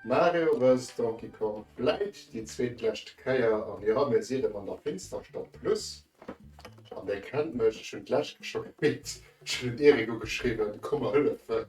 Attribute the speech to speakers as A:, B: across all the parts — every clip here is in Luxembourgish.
A: Mario vs Donkey Kong vläit déi zweetlescht Kéier an jo, mir sinn erëm an der Finsterstadt plus an dir kennt mech, ech hunn d'lescht scho gepickt, ech hunn dem Erik ugeschriwwen, komm mer hëllefen.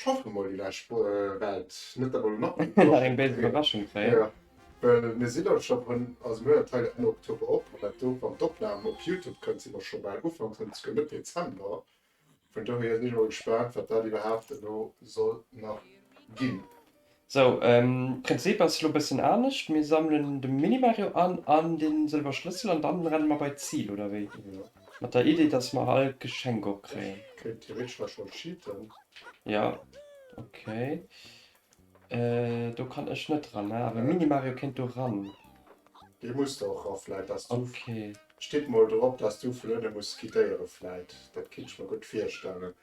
A: Schaffe mol déi lescht Wo äh, Welt. Net dat mer lo nach eng Nach eng béis Iwwerraschung
B: kréien. Ja.
A: Well mir si elo scho rëm, also mir huet hei Enn Oktober op, an dat do, wann d'Opnam op Youtube kënnt, si mer scho bal Ufank Sënn esouguer Mëtt Dezember. Vun dohier sinn ech mol gespaant, wat dat iwwerhaapt elo soll nach ginn. Sou,
B: Prinzip ass lo bessen anescht, mir sammelen de Mini-Mario an an den sëlwer Schlëssel an dann rennen mer bei d'Zil oder wéi? Mat der Idee
A: dass
B: mer all Geschenk opkréien. Ech kéint theoretesch nach schonn
A: cheaten. Jo
B: ok, do kann ech net ran ne, awer Mini-Mario kéint do ran. Dee muss
A: do och rauf vläit dass du. Ok. Steet
B: mol drop
A: dass du vun ënne muss skidéiere vläit, dat kinnt ech mer gutt virstellen.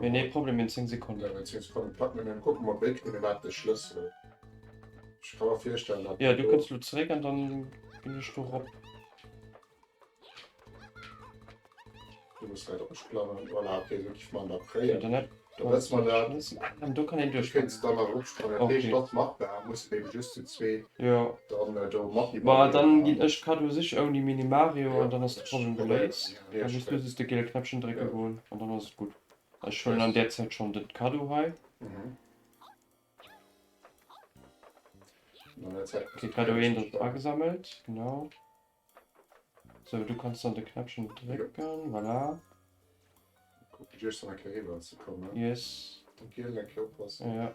B: Mir nee Problem in 10 Sekonnen.
A: Jo du kënns lo zeréck an
B: dann ginn ech do rop.
A: An do kann een duerch
B: goen.
A: Bon dann ginn ech Cadeau
B: sichen ouni Minimario an dann ass de Problem
A: geléist.
B: Dann muss du just de
A: gele Knäppchen
B: drécke goen an dann ass et gutt. Ech huelen an där Zäit schonn de Cadeau hei.
A: De Cadeau 1 ass
B: agesammelt, genau. Sou, du kanns dann de Knäppchen drécken, voilà.
A: Yes. Ja.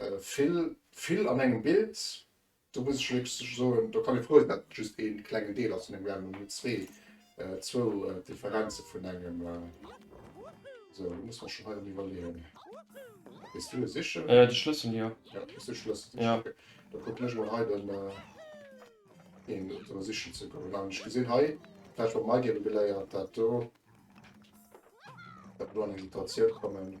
A: Vill, vill an engem Bild. Do muss ech lech soen, do kann ee frou sinn, datt et just ee klengen Deel ass vun engem Random, mee zwee, zwou Differenze vun engem. Sou, elo muss mer schonn hei am Iwwerleeën. Gees du e sichen? De Schlëssel, jo.
B: Jo, gees du de Schlëssel sichen?
A: Jo. Okay. Da kucken
B: ech emol
A: hei den, een do sichen ze goen. An ech gesinn hei, vläicht mat mei géiwe geléiert, dat do, dat mer do an eng Situatioun kommen.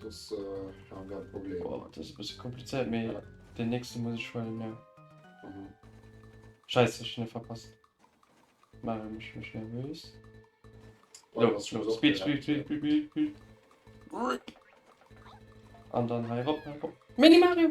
A: Soss ha mer e Problem. Boah, dat ass e bësse komplizéiert,
B: mee deen nächste muss
A: ech
B: huelen, jo. Scheiße, ech hunn e verpasst. Mare mech mech nervös.
A: Lo, lo,
B: speed,
A: speed, speed, speed,
B: speed, speed. An dann hei rop, hei rop. Mini Mario!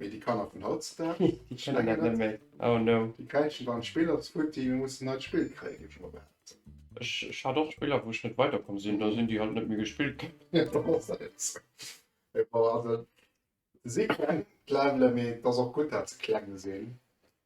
B: Mee déi Kanner
A: vun hautzedaag, déi kenne dat net méi.
B: Oh no. Déi kräischen dann d'Spill
A: als Outil, mir mussen neit Spill kréien, ginn ech mol behaapt. Ech, ech hat
B: och Spiller, wou ech net weiderkomm sinn, da sinn déi halt net méi gespillt ginn. Jo, dat ass dat eben
A: esou. Mee bon, also, si kleng, d'Levelen, mee et ass och gutt, dat se kleng sinn.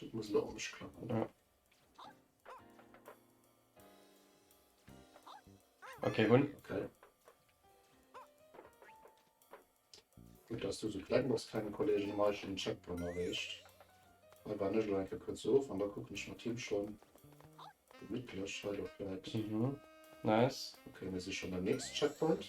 A: Dat muss elo anescht klappen, ne?
B: Okay, hunn. Okay.
A: Gutt, dass du so kleng bass, klengen Kollegen, hun ech den Checkpoint erreecht. Hei war ech elo eng Kéier kuerz of, an da kucken ech mat him schonn gemittlech hei do vläit. Mhm,
B: nice. Okay, mir si schonn beim
A: nächsten Checkpoint.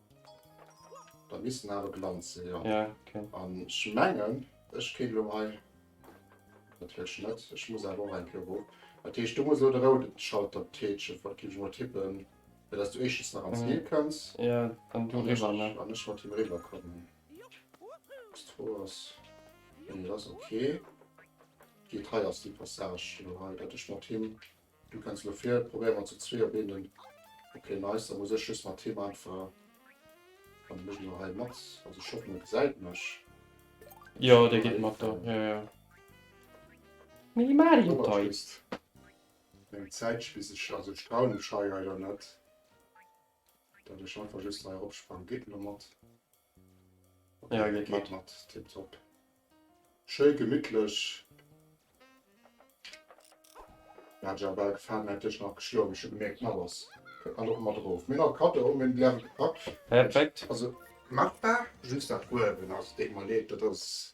A: Dat misst en awer gelant sinn, jo. Ja, ok. An
B: ech mengen,
A: ech kéint elo hei, dat wierkt net, ech muss awer och eng Kéier erof. Dat heescht, do muss elo de roude Schalter tätschen, wat géif ech emol tippen, fir dass du éischtens nach an d'Zil kënns. Ja, an du eriwwer,
B: ne? An ech mat him eriwwer
A: kommen. Destro ass, jo, dat ass ok. Geet, hei ass déi Passage, jo, hei, datt ech mat him. Du kenns lo vir, probéier mer zu zwee op eenen. Ok nice, da muss ech just mat him einfach, wann e mech elo hei mat, also ech hoffen en gesäit mech. Jo
B: dee geet mat do, jo jo. Mini Mario Toys.
A: Eng Zäitche bis ech, also ech trauen mech hei leider net, datt ech einfach just hei eropsprangen. Geet en elo mat? Ja geet mat. Geet mat,
B: tip top.
A: Schéi gemittlech. Hat jo bal gefaalen, hätt dech nach geschloen, mee ech hu gemierkt d'Mapp ass. Kënnt nach och mat erof. Mir nach Kaddo, mir hunn déi awer gepackt. Perfekt. Also machbar, just dat uewen ass, deet mer leed, dat ass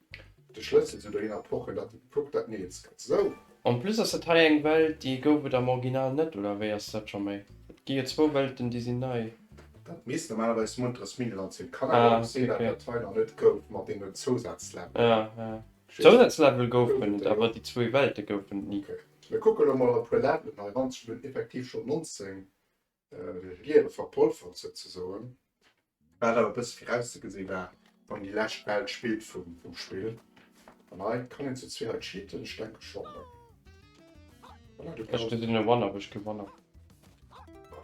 A: De Schlëssel zu der Inner Porte dat et kuckt dat nees gëtt sou. En
B: plus ass dat hei eng Welt déi gouf et am Original net, oder wéi ass dat scho méi? Et gi jo zwou Welten déi sinn nei. Dat misst
A: normalerweis Munteres Miniland sinn. Kann awer och sinn dat dat hei
B: nach
A: net gouf mat deenen Zousazlevel.
B: Zousazlevel goufen et, awer déi zwou Welte goufen et ni. Mir kucke lo mol
A: a puer Levelen hei ran, ech hunn effektiv schonn 19 Liewe verpolfert souzesoen, wat awer e bësse virauszegesinn war, wann déi lescht Bal d'Spillt vum Spill. An hei kann een zu zwee hei cheaten, ech denke schonn, ne? Voilà, du Ech gesinn e One, awer
B: ech gi One.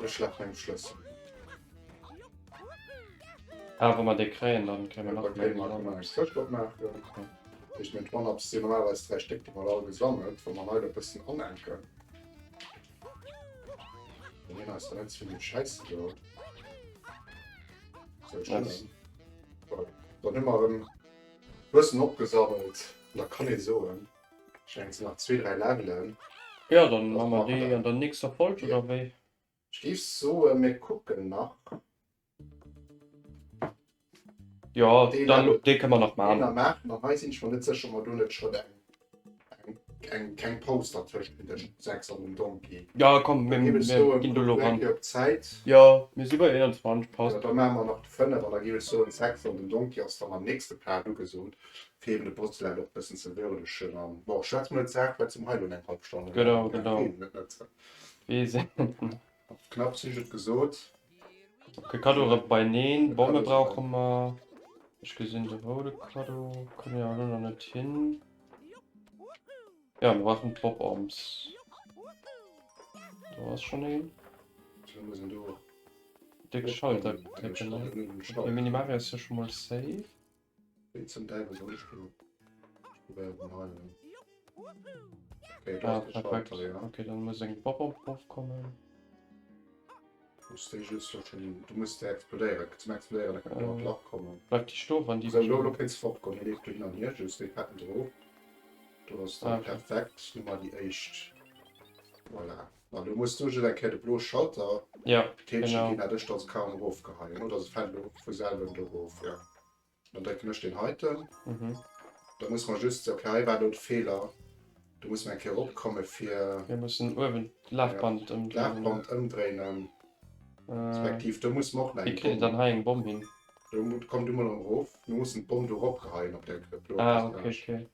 A: Ech laf mengem Schlëssel.
B: Ah, wa mer dee kréien, dann kréie mer nach Kréie mer eng nei
A: Sëft opmaachen. Okay. Dat heescht, meng One-ups sinn normalerweis dräi Stéck, déi mer all gesammelt, wa mer hei der e bëssen anenken. Mir hast du ganz viel Scheiß gebaut. So, ich dann, dann immer ein bisschen abgesammelt. Da kann ich so. Ich denke, es sind noch zwei, drei Leveln. Ja, dann machen
B: wir die in der nächsten
A: Folge,
B: oder wie? Ich gebe so,
A: äh, wir gucken nach.
B: Jo, deen dann, do, dee
A: kënne mer nach maachen.
B: Deen
A: maache
B: mer. Hei sinn
A: ech mer
B: net
A: sécher, ob mer do net schrëtt eng, eng kleng Paus dertëscht hunn, tëscht dem 6 an dem Donkey. Jo, komm, mir
B: ginn do
A: elo ran.
B: Jo,
A: mir si bei
B: 21, passt. Jo, da maache mer nach
A: de 5
B: an
A: da géif ech soen, 6 an den Donkey ass dann am nächste Part ugesot, fir eeben de Postulat och e bëssen ze würdegen. An bon, schwätze mer iwwer d'Saach, well et sinn hei elo eng hallef Stonn. Genau, genau. Wee se.
B: Knapps
A: hu ech et gesot. Fir
B: Kaddo rem beineen. Bomme brauche mer. Ech gesinn de roude Kaddo kënn jo elo nach net hin. Jo, mer brauchen Drop-Oms. Do ass schonn een. Wéi muss
A: en do. Déck
B: Schalter. Mini Mario ass jo scho mol safe. Wéi zum
A: Däiwel soll ech do wäerten heilen? Okay, do ass de Schalter,
B: jo. Okay,
A: dann muss
B: eng
A: Bob op
B: Bob kommen.
A: Du muss de explodéieren. Zum explodéieren da kënnt en Lach kommen. Bleif di sto wann di. Sou
B: lo lo kéints fort goen. Hie
A: leeft do hin an hier just wéi Petten drop. Do ass dann perfekt. Du
B: mar di
A: éischt. Voilà. An do muss du just eng Kéier de blo Schalter, ja, Käppchen ginn,
B: dat ech
A: dats kaum
B: erof
A: geheien oder se fällt elo vu selwen do erof, ja. Dann drécken ech deen heiten, mhm.
B: da muss mer
A: just ok hei war elo de Feeler. Do muss mer eng Kéier erop komme fir, mir mussen uewen
B: d'Lafband ja, ëmdréinen, Lafband ëmdréinen
A: respektiv do muss mer och nach eng Bomm, wéi kritt dann hei eng Bomm
B: hin? Do komm du
A: mol erëm erof, mir mussen d'Bomm do eropgeheien op der blo ah, okay, okay.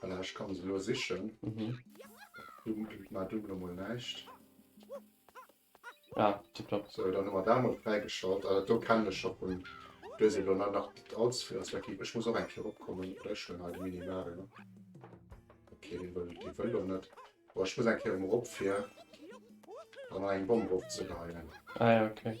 A: Voilà, ech kann se elo sichen. Mhm.
B: Dumm bringt
A: mer dumm lo mol näischt.
B: Ah, tipptopp. So, dann hu mer dat mol
A: fräigeschalt. Ah, dat do kennen ech scho vun. Do si lo nach net allze vill aus der Keep. Ech muss och eng Kéier eropkommen. Oder ech huelen hei de Minimario. Okay, dee wëll, dee wëll lo net. Boah, ech muss eng Kéier emol erop fir an eng Bomm erofzeleien. Ah ja, okay.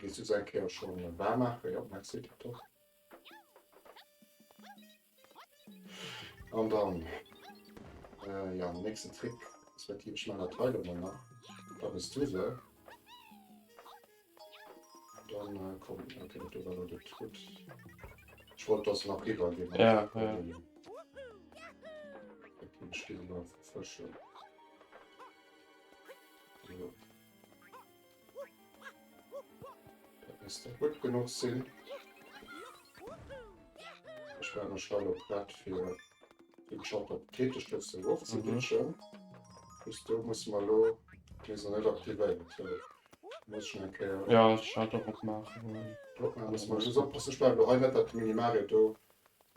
A: Gees du se eng Kéier scho waar maachen? Jo, merci Tatosch. An dann, jo, den nächsten Trick, respektiv ech man der Teil emol nach, da hues du se. Dann komm, ok, do war lo de Tut. Ech wollt dass nach riwwer gin. Ja, ja. Ech gin nach fëschen. Dass der gutt genuch sinn. Ech war mech dann op dat fir den Shop op d'Keetestëfs erof ze glitschen. Mhm. Just do muss mer lo. Dees ass net aktivéiert. Well muss ech eng Kéier. Jo, ech hat och
B: opmaachen. Drop maachen. Drop maachen. Muss mer just
A: oppassen. Ech brauch lo hei net dat Mini-Mario do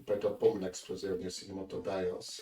A: bei der Bommenexplosioun, ier se do mat dobäi ass.